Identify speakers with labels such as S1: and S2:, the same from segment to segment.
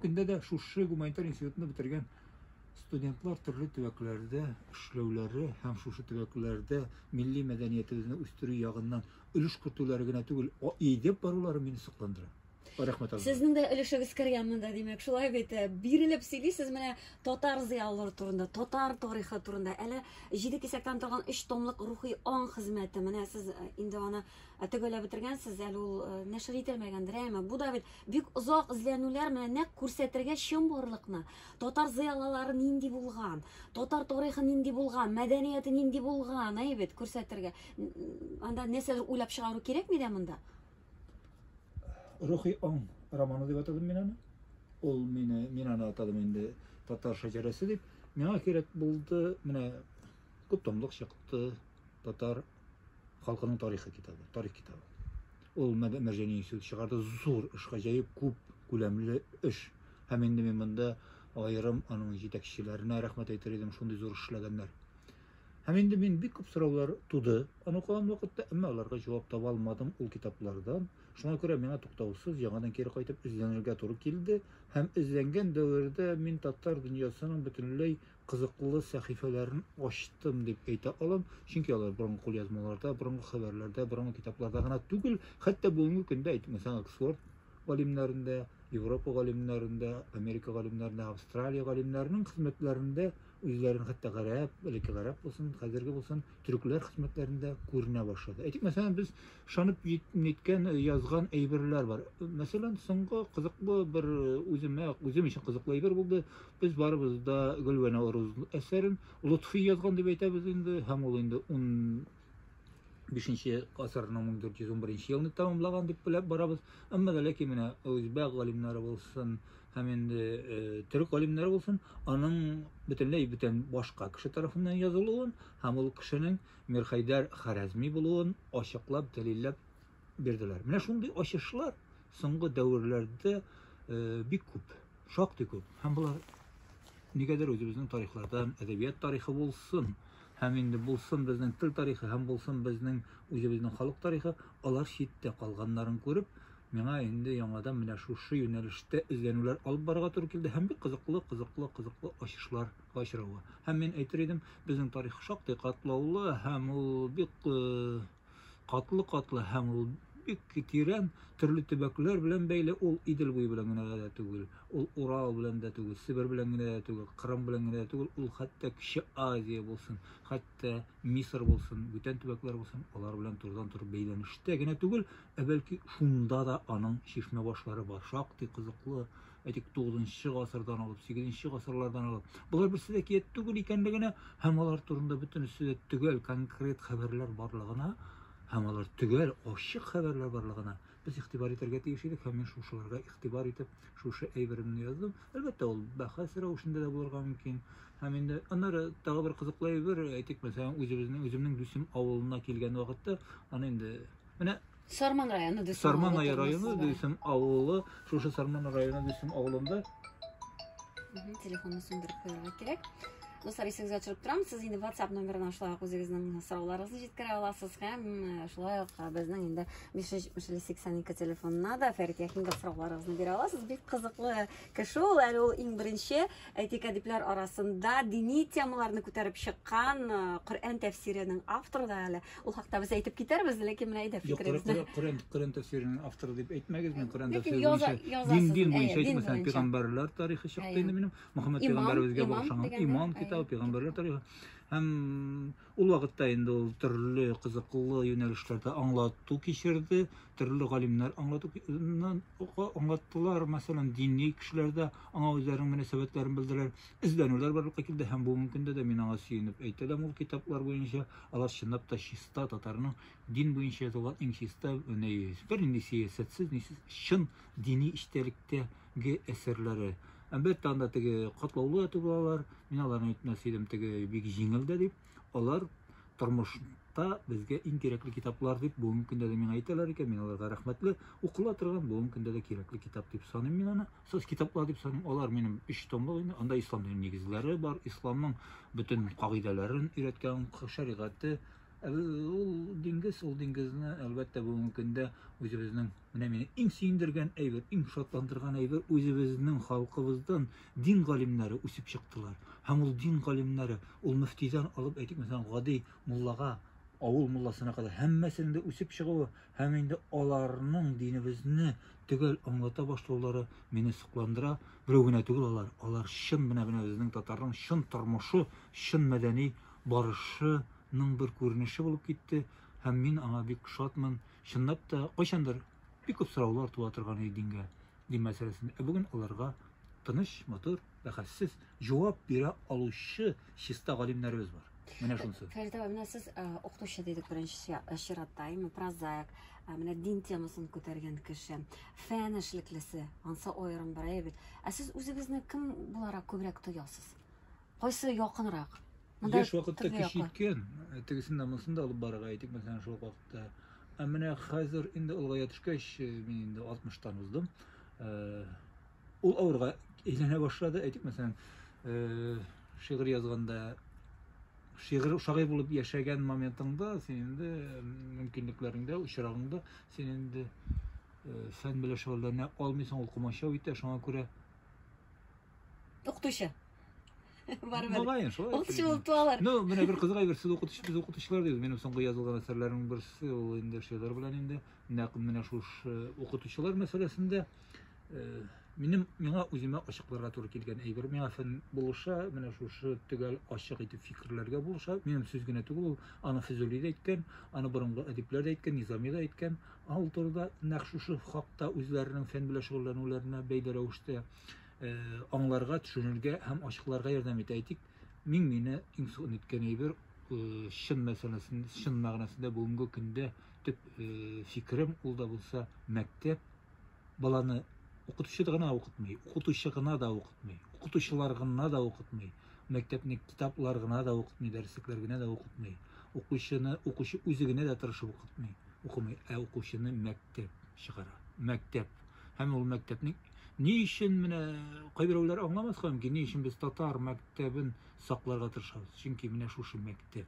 S1: Көндә дә шушы гуманитар институтны бетергән студентлар төрле төбәкләрдә эшләүләре һәм шушы төбәкләрдә милли мәдәниятебезне үстерү ягыннан өлеш кертүләре генә түгел, идеп барулары мине сокландыра. Рәхмәт алга. Сезнең дә өлешегез кергән монда, димәк, шулай бит. Э, бирелеп сөйлисез менә татар зыялылары турында, татар тарихы турында. Әле җиде кисәктән торган өч томлык рухи аң хезмәте. Менә сез э, инде аны Ә төгәлләп бетергәнсез, әле ул э, нәшер ителмәгәндер, әмма бу да бит бик озак эзләнүләр менә нәкъ күрсәтергә чын барлыкны. Татар зыялылары нинди булган, татар тарихы нинди булган, мәдәнияте нинди булган, әй бит күрсәтергә. Анда нәрсәдер уйлап чыгару кирәкми дә монда. Рухи аң романы дип атадым мин аны. Ул мине мин аны атадым инде татар шәҗәрәсе дип. Миңа кирәк булды, менә күп томлык чыкты татар халкының тарихы китабы, тарих китабы. Ул Мәрҗани институты чыгарды, зур эш, гаҗәеп күп күләмле эш. Һәм инде мин монда аерым аның җитәкчеләренә рәхмәт әйтер идем, шундый зур эшләгәннәр. Һәм инде мин бик күп сораулар туды. Аны укыган вакытта, әмма аларга җавап таба алмадым ул китаплардан. Шуңа күрә миңа туктаусыз яңадан кире кайтып эзләнергә туры килде. Һәм эзләнгән дәвердә мин татар дөньясының бөтенләй кызыклы сәхифәләрен ачтым дип әйтә алам, чөнки алар борынгы кулъязмаларда, борынгы хәбәрләрдә, борынгы китапларда гына түгел, хәтта бүгенге көндә әйтмәсәң Оксфорд галимнәрендә, Европа галимнәрендә, Америка галимнәрендә, Австралия галимнәренең хезмәтләрендә үзләрен хәтта гарәп, элекке гарәп булсын, хәзерге булсын, төрекләр хезмәтләрендә күренә башлады. Әйтик, мәсәлән, без шанып җиткән э, язган әйберләр бар. Мәсәлән, соңгы кызыклы бер э, үземә, үзем өчен кызыклы әйбер булды. Без барыбыз да Гөлвәнә Орыз әсәрен Лотфи язган дип әйтәбез инде, һәм ул инде 10 бишенче гасырның 1411 елны тәмамлаган дип беләп барабыз. Әмма ләкин менә үзбәк галимнәре булсын, һәм инде э, төрек галимнәре булсын, аның бөтенләй бүтән башка кеше тарафыннан язылуын һәм ул кешенең Мирхәйдәр Харәзми булуын ачыклап дәлилләп бирделәр. Менә шундый ачышлар соңгы дәверләрдә э, бик күп, шактый күп. Һәм болар нигәдер үзебезнең тарихлардан, әдәбият тарихы булсын, һәм инде булсын безнең тел тарихы һәм булсын безнең үзебезнең халык тарихы, алар читтә калганнарын күреп, миңа инде яңадан менә шушы юнәлештә эзләнүләр алып барырга туры килде һәм бик кызыклы, кызыклы, кызыклы ачышларга очравы. Һәм мин әйтер идем, безнең тарих шактый катлаулы һәм ул бик катлы-катлы һәм ул бик тирән төрле төбәкләр белән бәйле ул Идел буе белән генә дә түгел, ул Урал белән дә түгел, Себер белән генә дә түгел, Кырым белән генә дә түгел, ул хәтта Кече Азия булсын, хәтта Мисыр булсын, бүтән төбәкләр булсын, алар белән турыдан-туры бәйләнештә генә түгел, Ә бәлки шунда да аның чишмә башлары бар, шактый кызыклы, әйтик, 9 гасырдан алып, 8 гасырлардан алып. Болар берсе дә кият түгел икәнлегенә һәм алар турында бөтенесе дә төгәл конкрет хәбәрләр барлыгына һәм алар төгәл ачык хәбәрләр барлыгына без игътибар итәргә тиеш идек һәм мин шушыларга игътибар итеп шушы әйберемне яздым әлбәттә ул бәхәс рәвешендә дә булырга мөмкин һәм инде аннары тагы бер кызыклы әйбер әйтик мәсәлән үзебезнең үземнең дусым авылына килгән вакытта аны инде Менә Сарман районы Дөсем Сарман авылы районы тормышсыз бара. Дөсем авылы, шушы Сарман районы Дөсем авылында Мгм, Телефонны сүндереп куярга кирәк. Дуслар, исегезгә төшереп торам, сез инде WhatsApp номерына шулай ук үзегезнең сорауларыгызны җиткерә аласыз һәм э, шулай ук э, безнең инде 570-82 телефонына да Фәрит Яхинга сорауларыгызны бирә аласыз. Бик кызыклы кеше ул, әле ул иң беренче әйтик әдипләр арасында дини темаларны күтәреп чыккан э, Коръән тәфсиренең авторы да әле. Ул хакта без әйтеп китәрбез, ләкин менә әйдә фикерегезне. Юк, Коръән Коръән тәфсиренең авторы дип әйтмәгез, мин Коръән тәфсире буенча дин дин буенча әйтмәсәм, пигамбәрләр тарихы чыкты инде минем. Мөхәммәд пигамбәребезгә багышланган иман китабы, пигамбәрләр тарихы. Һәм ул вакытта инде ул төрле кызыклы юнәлешләрдә аңлату кичерде, төрле галимнәр аңлату аңлаттылар, мәсәлән, дини кешеләр дә аңа үзләренең мөнәсәбәтләрен белдерәләр, эзләнүләр барлыкка килде һәм бүгенге көндә дә мин аңа сөенеп әйтәләм ул китаплар буенча. Алар чынлап та чиста татарның дин буенча язылган иң чиста бернинди сәясәтсез, нисез чын дини эчтәлектәге әсәрләре. Әлбәттә, анда теге катлаулы әтү балалар, мин аларны әйтмәс идем, теге бик җиңел дә дип, алар тормышта безгә иң кирәкле китаплар дип бүгенге көндә дә миңа әйтәләр икән, мин аларга рәхмәтле. Укыла торган бүгенге көндә дә кирәкле китап дип саныйм мин аны. Сез китаплар дип саныйм, алар минем өч томлык инде. Анда ислам диненең нигезләре бар, исламның бөтен кагыйдәләрен өйрәткән шәригате. Ә ул диңгез, ул диңгезне, әлбәттә, бүгенге көндә үзебезнең, менә мине иң сөендергән әйбер, иң шатландырган әйбер, үзебезнең халкыбыздан дин галимнәре үсеп чыктылар. Һәм ул дин галимнәре, ул мөфтидән алып, әйтик, мәсәлән, гади муллага, авыл мулласына кадәр һәммәсенең дә үсеп чыгуы, Һәм инде аларның динебезне төгәл аңлата башлаулары мине сокландыра. Берәү генә түгел алар, алар чын менә менә безнең татарның чын тормышы, чын мәдәни барышының бер күренеше булып китте һәм мин аңа бик шатмын. Чынлап та, кайчандыр бик күп сораулар туа торган иде дингә. дин мәсьәләсендә. Ә бүген аларга тыныч, матур, бәхәссез җавап бирә алучы чиста галимнәребез бар. Менә шунысы. Фәрит абай, менә сез укытучы дидек беренче чиратта, именно прозаик, менә дин темасын күтәргән кеше, фән эшлеклесе, ансы аерым бер әйбит. Ә сез үзегезне кем буларак күбрәк тоясыз? Кайсы якынрак? Монда Еш вакытта төрле кеше якы. иткән, ә тегесен дә монысын да алып барырга әйтик, мәсәлән, шул ук вакытта. Ә менә хәзер инде олыгая төшкәч, э, мин инде 60-тан уздым. Э, Ул авырга әйләнә башлады, әйтик, мәсәлән, э, шигырь язганда шигырь шагыйрь булып яшәгән моментыңда син инде э, мөмкинлекләреңдә, очрагыңда син инде э, фән белән шөгыльләнә алмыйсың, ул комачау итә, шуңа күрә Укытучы. Барыбер. Мөгаен, шулай. Укытучы булып туалар. Ну, менә бер кызык әйбер, сез укытучы, без укытучылар дибез. Минем соңгы язылган әсәрләрнең берсе ул инде шигырь белән инде нәкъ менә шушы э, укытучылар мәсьәләсендә э, минем миңа үземә ачыкларга туры килгән әйбер миңа фән булыша менә шушы төгәл ачык итеп фикерләргә булыша минем сүз генә түгел ул аны физули да әйткән аны борынгы әдипләр дә әйткән низами да әйткән ул турыда нәкъ шушы хакта үзләренең фән белән шөгыльләнүләренә бәйле рәвештә э, э, аңларга, төшенергә һәм ачыкларга ярдәм итә. Әйтик, мин мине иң соң үткән әйбер э, чын мәсьәләсен, чын мәгънәсендә бүгенге көндә төп э, фикерем ул да булса мәктәп баланы укытучы гына укытмый, укытучы гына да укытмый, укытучылар гына да укытмый. Мәктәпне китаплар гына да укытмый, дәреслекләр генә дә укытмый. Укучыны укучы үзе генә дә тырышып укытмый, укымый, ә укучыны мәктәп чыгара. Мәктәп. Һәм ул мәктәпнең ни өчен менә кайберәүләр аңламаска мөмкин, ни өчен без татар мәктәбен сакларга тырышабыз? Чөнки менә шушы мәктәп.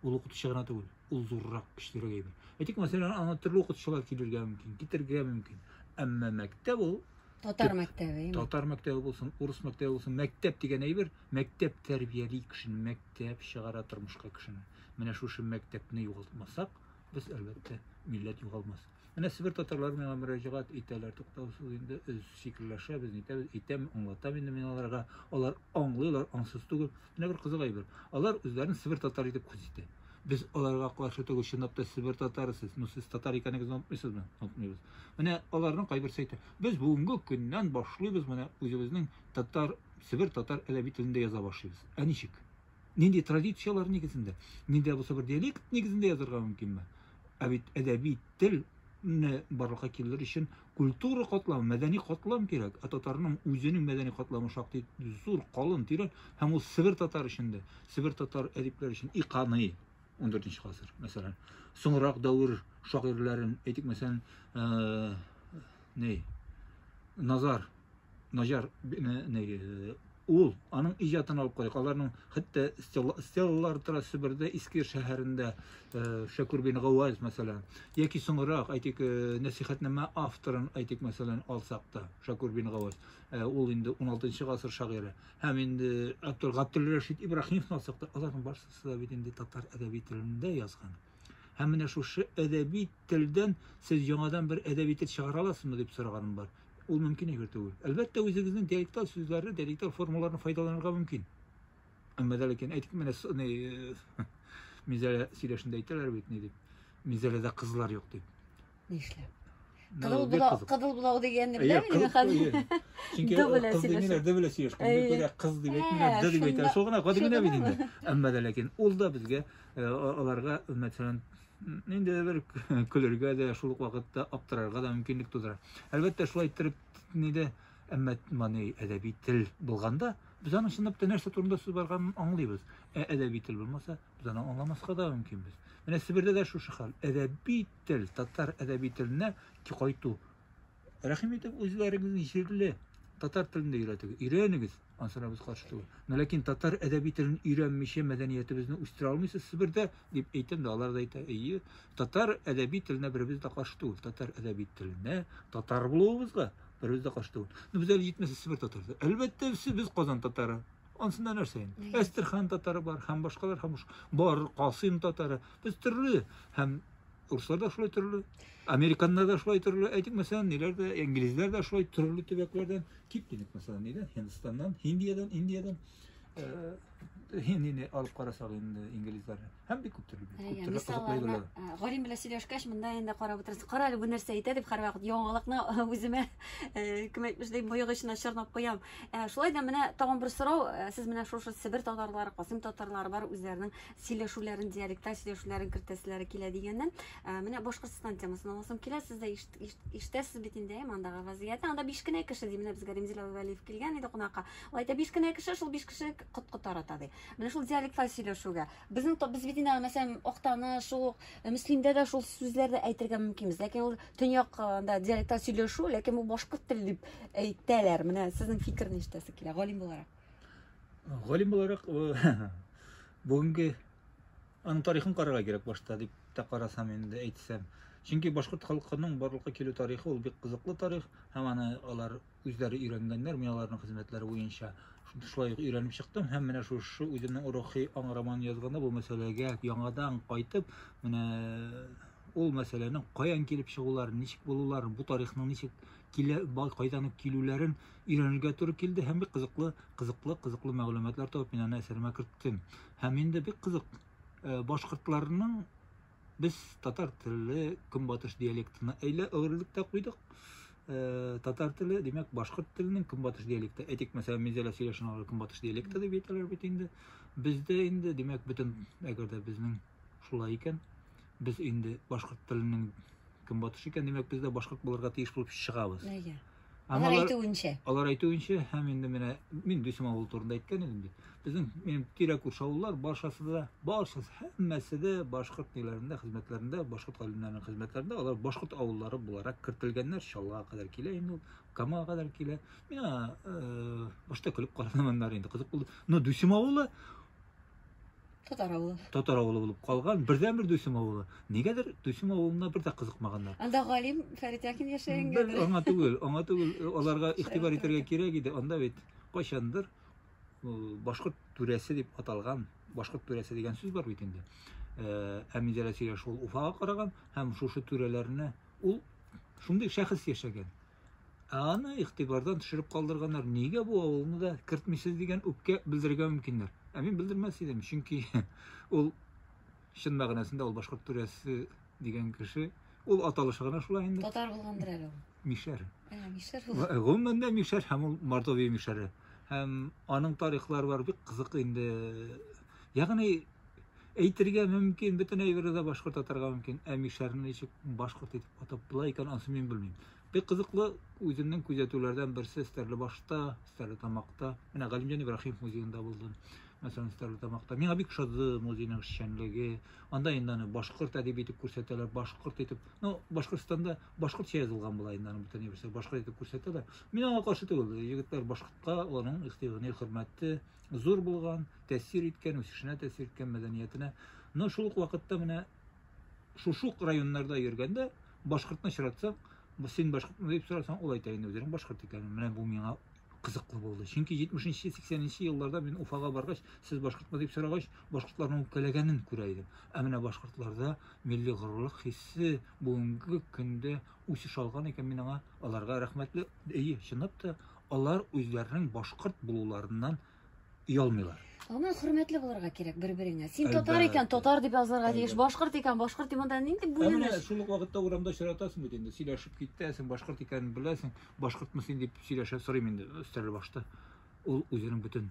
S1: Ул укытучы гына түгел, ул зуррак, көчлерәк әйбер. Әйтик, мәсәлән, аңа төрле укытучылар килергә мөмкин, китергә мөмкин. Әмма мәктәп ул татар мәктәбе. Татар мәктәбе булсын, урыс мәктәбе булсын, мәктәп дигән әйбер, мәктәп тәрбияли кешене, мәктәп чыгара тормышка кешене. Менә шушы мәктәпне югалтмасак, без әлбәттә милләт югалмас. Менә Себер татарлары миңа мөрәҗәгать итәләр, туктаусыз инде фикерләшәбез, нитәбез, әйтәм, аңлатам инде мин аларга. Алар аңлыйлар, аңсыз түгел. Менә бер кызык әйбер. Алар үзләрен Себер татары итеп хис итә. Без аларга каршы түгел, чынлап та Себер татары сез. Ну, сез татар икәнегезне онытмыйсызмы? Онытмыйбыз. Менә аларның кайберсе әйтә, без бүгенге көннән башлыйбыз, менә үзебезнең татар, Себер татар әдәби телендә яза башлыйбыз. Ә ничек? Нинди традицияләр нигезендә? Нинди булса бер диалект нигезендә язарга мөмкинме? Ә бит әдәби тел барлыкка килер өчен Культура катламы, мәдәни катлам кирәк, ә татарның үзенең мәдәни катламы шактый зур, калын, тирән, һәм ул Себер татар өчен дә, Себер татар әдипләре өчен и каный. 14 гасыр, мәсәлән. Соңрак дәвер шагыйрьләрен, әйтик, мәсәлән, э, не, Назар Наҗар ул аның иҗатын алып карыйк. Аларның хәтта стеллалар тора Себердә, Иске шәһәрендә, э, Шәкүр бин Гаваз, мәсәлән, яки соңрак, әйтик, э, нәсихәтнамә авторын, әйтик, мәсәлән, алсак та, Шәкүр бин Гаваз, э, ул инде 16 гасыр шагыйре. Һәм инде Абдул Габдул Рәшид Ибраһимовны алсак та, аларның барысы да бит инде татар әдәби телендә язган. Һәм менә шушы әдәби телдән сез яңадан бер әдәби тел чыгара аласызмы дип сораганым бар. Ул мөмкин әйбер түгел. Әлбәттә, үзегезнең диалекталь сүзләрне, диалекталь формаларны файдаланырга мөмкин. Әмма дә ләкин әйтик менә Мизәлә сөйләшендә әйтәләр бит ни дип. Мизәләдә кызлар юк дип. Нишләп? Кызыл булау, кызыл булау дигәнне беләм мин хәзер. Чөнки кыз димиләр, дә белә сөйләшкән. Бик күрә кыз дип әйтмиләр, дә дип әйтә. Шул гына гади генә бит инде. Әмма дә ләкин ул да безгә аларга мәсәлән нинди дә бер көлергә дә шул ук вакытта аптырарга да мөмкинлек тудыра. Әлбәттә шулай иттереп ни дә әмма мани әдәби тел булганда без аның чынлап та нәрсә турында сүз барганын аңлыйбыз. Ә әдәби тел булмаса, без аны аңламаска да мөмкинбез. Менә Себердә дә шушы хәл. Әдәби тел, татар әдәби теленә кайту. Рәхим итеп, үзләрегезнең җирле татар телен дә өйрәтегез. Өйрәнегез, ансынабыз каршы түгел. Но ләкин татар әдәби телен өйрәнмичә мәдәниятебезне үстерә алмыйсыз Себердә, дип әйтәм дә, алар да әйтә, әйе, татар әдәби теленә беребез дә каршы түгел. Татар әдәби теленә, татар булуыбызга беребез дә каршы түгел. Но без әле җитмәсә Себер татары. Әлбәттә, без Казан татары. Ансында нәрсә инде? Әстерхан татары бар, һәм башкалар һәм бар, Касыйм татары. Без төрле һәм урыслар да шулай төрле, американнар да шулай төрле, әйтик мәсәлән, ниләр дә, инглизләр дә шулай төрле төбәкләрдән кип дидек, мәсәлән, нидән, Һиндстаннан, Һиндиядән, Индиядән. Һиндине алып карасак инде инглизләрне. Һәм бик күп төрле бит. Күп төрле кызыклы әйберләр. Галим белән сөйләшкәч, монда инде карап утырасың. Кара әле бу нәрсә әйтә дип һәрвакыт яңалыкны үземә кем әйтмешли мыек эченә чорнап куям. Шулай да менә тагын бер сорау, сез менә шушы Себер татарлары, Касыйм татарлары бар үзләренең сөйләшүләрен, диалекта сөйләшүләрен кертәселәре килә дигәннән, менә Башкортстан темасын аласым килә. Сез дә ишетәсез бит инде, мондагы вазгыятьне. Анда биш кенә кеше ди, менә безгә Римзил Әбүгалиев килгән иде кунакка. Ул әйтә, биш кенә кеше, шул биш кеше коткы тарата ди. Менә шул диалектлар сөйләшүгә. Безнең то без бит инде мәсәлән Актаныш, ук э, Мөслимдә дә шул сүзләрне әйтергә мөмкинбез. Ләкин ул төньяк э, анда диалектлар сөйләшү, ләкин бу башкорт теле дип әйтәләр. Менә сезнең фикер ништәсе килә галим буларак? Галим буларак э, бүгенге аның тарихын карарга кирәк башта дип тә карасам инде әйтсәм. Чөнки башкорт халкының барлыкка килү тарихы ул бик кызыклы тарих һәм аны алар Үзләре өйрәнгәннәр мин аларның хезмәтләре буенча шулай ук өйрәнеп чыктым һәм менә шушы үземнең рухи аң романын язганда бу мәсьәләгә яңадан кайтып, менә ул мәсьәләнең каян килеп чыгуларын, ничек булуларын, бу тарихның ничек килә, кайдан ук килүләрен өйрәнергә туры килде һәм бик кызыклы, кызыклы, кызыклы мәгълүматлар табып мин аны әсәремә керттем. Һәм инде бик кызык э, башкортларның Без татар телле көнбатыш диалектына әйлә әверелдек тә куйдык. Э, татар теле, димәк, башкорт теленең көнбатыш диалекты. Әйтик, мәсәлән, Минзәлә сөйләшен алар көнбатыш диалекты дип әйтәләр бит инде. Бездә инде, димәк, бөтен, әгәр дә безнең шулай икән, без инде башкорт теленең көнбатыш икән, димәк, без дә башкорт булырга тиеш булып чыгабыз. Әйе. Һәм алар әйтүенчә. Алар әйтүенчә, һәм инде менә мин Дүйсем авылы турында әйткән идем бит. Безнең минем тирә күрше авыллар баршасы да, баршасы һәммәсе дә башкорт ниләрендә, хезмәтләрендә, башкорт галимнәренең хезмәтләрендә алар башкорт авыллары буларак кертелгәннәр. Чаллыга кадәр килә инде ул, Камага кадәр килә. Мина э, башта көлеп карадым аннары инде кызык булды. Но Дүйсем авылы Татар авылы. Татар авылы булып калган. Бердән бер Дуйсым авылы. Нигәдер Дуйсым авылына бер дә кызыкмаганнар. Анда галим Фәрит Якин яшәгәнгә. Бер аңа түгел, аңа түгел, э, аларга игътибар итәргә кирәк иде. Анда бит кайчандыр э, башкорт түрәсе дип аталган, башкорт түрәсе дигән сүз бар бит инде. Э, Әмидә Рәсия шул Уфага караган һәм шушы түрәләрне ул шундый шәхес яшәгән. Ә аны игътибардан төшереп калдырганнар. Нигә бу авылны да кертмисез дигән үпкә белдерергә мөмкиннәр. Ә мин белдермәс идем, чөнки ул чын мәгънәсендә ул башкорт түрәсе дигән кеше, ул аталышы гына шулай инде. Татар булгандыр әле ул. Мишәр. Ә, мишәр ул. Э, гомумән дә мишәр һәм ул Мордовия мишәре. Һәм аның тарихлары бар бик кызык инде. Ягъни Әйтергә мөмкин, бөтен әйберне дә башкорт атарга мөмкин. Ә мишәрне ничек башкорт итеп атап була икән, ансы мин белмим. Бик кызыклы үземнең күзәтүләрдән берсе Стәрлебашта, Стәрлетамакта, менә Галимҗан Ибраһимов музеенда булдым. Мәсәлән, Стәрлетамакта. Миңа бик шады музейның эшчәнлеге. Анда инде аны башкорт әдиби итеп күрсәтәләр, башкорт итеп. Ну, Башкортстанда башкортча язылган була инде аны бөтен нәрсә башкорт итеп күрсәтәләр. Мин аңа каршы түгел. Егетләр башкортка, аның ихтиягенә хөрмәте, зур булган, тәэсир иткән, үсешенә тәэсир иткән мәдәниятенә. Но шул ук вакытта менә шушук районнарда йөргәндә башкортны очратсаң, син башкортмы дип сорасаң, ул әйтә инде үзенең башкорт икәнен. Менә бу миңа кызыклы булды. Чөнки 70-80 елларда мин Уфага баргач, сез башкортмы дип сорагач, башкортларның үпкәләгәнен күрә идем. Ә менә башкортларда милли горурлык хиссе бүгенге көндә үсеш алган икән, мин аңа аларга рәхмәтле. Әйе, чынлап та Алар үзләренең башкорт булуларыннан оялмыйлар. Аңа хөрмәтле булырга кирәк бер-береңә. Син татар Әлбәттә. икән, татар дип язылырга тиеш. Әлбәттә. Башкорт икән, башкорт дип монда нинди Ә менә бүленеш? шул ук вакытта урамда очратасың бит инде, сөйләшеп китәсең, башкорт икәнен беләсең, башкортмы син дип сөйләшә сорыйм инде өстәл башта. Ул үзенең бөтен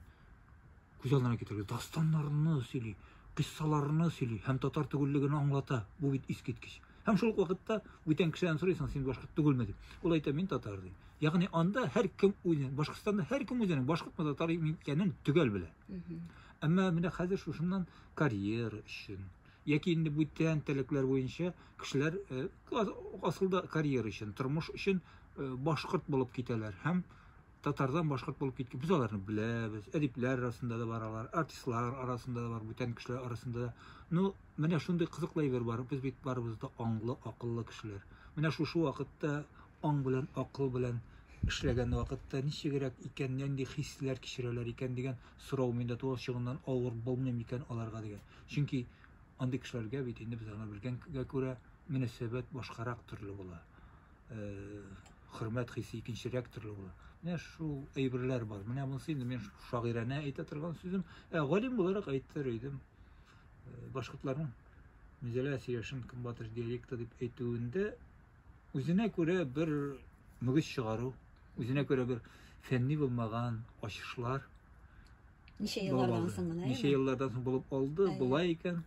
S1: күз алдына китерергә, дастаннарны сөйли, кыссаларны сөйли һәм татар түгеллеген аңлата. Бу бит искиткеч. Һәм шул вакытта бүтән кешедән сорыйсың, син башкорт түгелме дип. Ул әйтә, мин татар ди. Ягъни анда һәркем үзен, Башкортстанда һәркем үзенең башкортмы татар икәнен төгәл белә. Әмма менә хәзер шушыннан карьера өчен, яки инде бүтән теләкләр буенча кешеләр э, асылда карьера өчен, тормыш өчен э, башкорт булып китәләр һәм татардан башкорт булып киткән без аларны беләбез әдипләр арасында да бар алар артистлар арасында да бар бүтән кешеләр арасында да ну менә шундый кызыклы әйбер бар без бит барыбыз да аңлы акыллы кешеләр менә шушы вакытта аң белән акыл белән эшләгән вакытта ничегрәк икән нинди хисләр кичерәләр икән дигән сорау миндә туа чыгыннан авыр булмый микән аларга дигән чөнки андый кешеләргә бит инде без аны белгәнгә күрә мөнәсәбәт башкарак төрле була хөрмәт хисе икенчерәк төрле була. Менә шул әйберләр бар. Менә монысы инде мин шагыйрәнә әйтә торган сүзем, ә галим буларак әйтер идем. Башкортларның Мизәлә Сирешин көнбатыш диалекты дип әйтүендә үзенә күрә бер мөгез чыгару, үзенә күрә бер фәнни булмаган ачышлар. Ничә еллардан соң гына? Ничә еллардан соң булып алды, болай икән.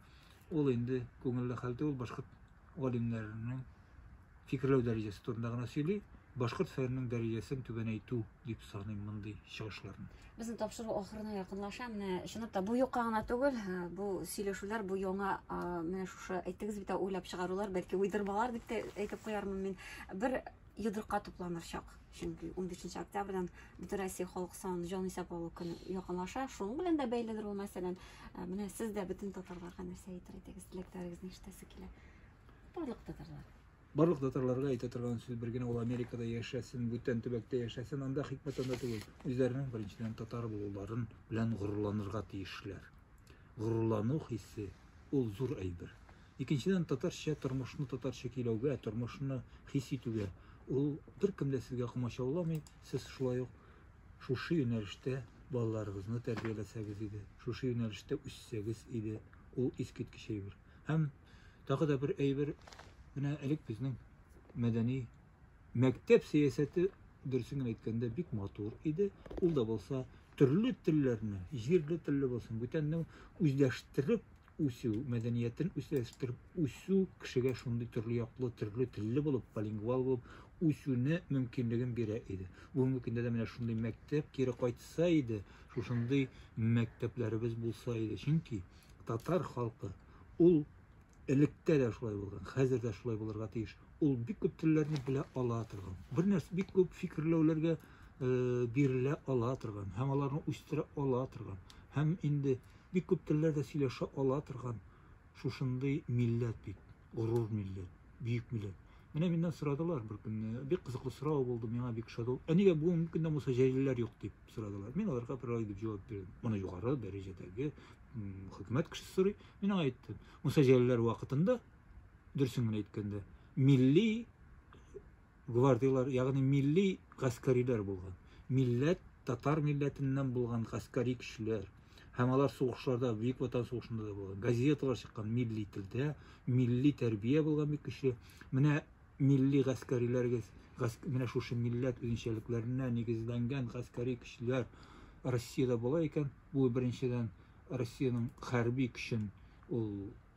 S1: Ул инде күңелле хәл түгел, башкорт галимнәренең фикерләү дәрәҗәсе турында гына сөйли, башкорт фәненең дәрәҗәсен түбәнәйтү дип саныйм мондый чыгышларны. Безнең тапшыру ахырына якынлаша. Менә чынлап та бу юкка гына түгел, бу сөйләшүләр, бу яңа менә шушы әйттегез бит, уйлап чыгарулар, бәлки уйдырмалар дип тә әйтеп куярмын мин. Бер йодрыкка тупланыр чак. Чөнки унбишенче октябрьдән Бөтенроссия халык санын җан исәп алу көне якынлаша. Шуның белән дә бәйледер ул, мәсәлән, ә, менә сез дә бөтен татарларга нәрсә әйтер идегез, теләкләрегезне ишетәсе килә. Барлык татарлар. Барлык татарларга әйтә торган сүз бер генә ул Америкада яшәсен, бүтән төбәктә яшәсен, анда хикмәт анда түгел. Үзләренең беренчедән татар булуларын белән горурланырга тиешләр. Горурлану хисе ул зур әйбер. Икенчедән, татарча тормышны татарча көйләүгә, тормышны хис итүгә ул беркем дә сезгә комачауламый, сез шулай ук шушы юнәлештә балаларыгызны тәрбияләсәгез иде, шушы юнәлештә үссәгез иде, ул искиткеч әйбер. Һәм тагы да бер әйбер, менә элек безнең мәдәни мәктәп сәясәте дөресен генә әйткәндә бик матур иде. Ул да булса төрле телләрне, җирле телле булсын, бүтәнне үзләштереп үсү, мәдәниятен үстереп үсү кешегә шундый төрле яклы, төрле телле булып, полингвал булып үсүне мөмкинлеген бирә иде. Бүгенге көндә дә менә шундый мәктәп кире кайтса иде, шушындый мәктәпләребез булса иде. Чөнки татар халкы ул электә дә шулай булган, хәзер дә шулай булырга тиеш. Ул бик күп телләрне белә ала торган. Бер нәрсә бик күп фикерләүләргә бирелә ала торган һәм аларны үстерә ала торган һәм инде бик күп телләрдә сөйләшә ала торган шушындый милләт бит, горур милләт, бөек милләт. Менә миннән сорадылар бер көнне, бик кызыклы сорау булды, миңа бик шат ул. Ә нигә бүгенге көндә булса җәлилләр юк дип сорадылар. Мин аларга бер ай дип җавап бирдем. Моны югары дәрәҗәдәге хөкүмәт кешесе сорый. Мин аңа әйттем, Муса җәлилләр вакытында дөресен генә әйткәндә, милли гвардияләр, ягъни милли гаскәриләр булган. Милләт, татар милләтеннән булган гаскәри кешеләр. Һәм алар сугышларда, Бөек Ватан сугышында да булган. Газеталар чыккан милли телдә, милли тәрбия булган бик көчле. Менә милли гаскәриләрегез, гас... менә шушы милләт үзенчәлекләренә нигезләнгән гаскәри көчләр Россиядә була икән, бу беренчедән Россиянең хәрби көчен ул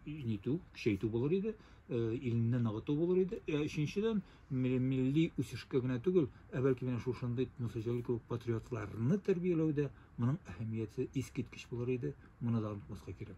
S1: нитү, көчәйтү булыр иде, илне ныгыту булыр иде. Өченчедән, милли үсешкә генә түгел, ә бәлки менә шушындый Нусаҗәлил кебек патриотларны тәрбияләүдә моның әһәмияте искиткеч булыр иде. Моны да онытмаска кирәк.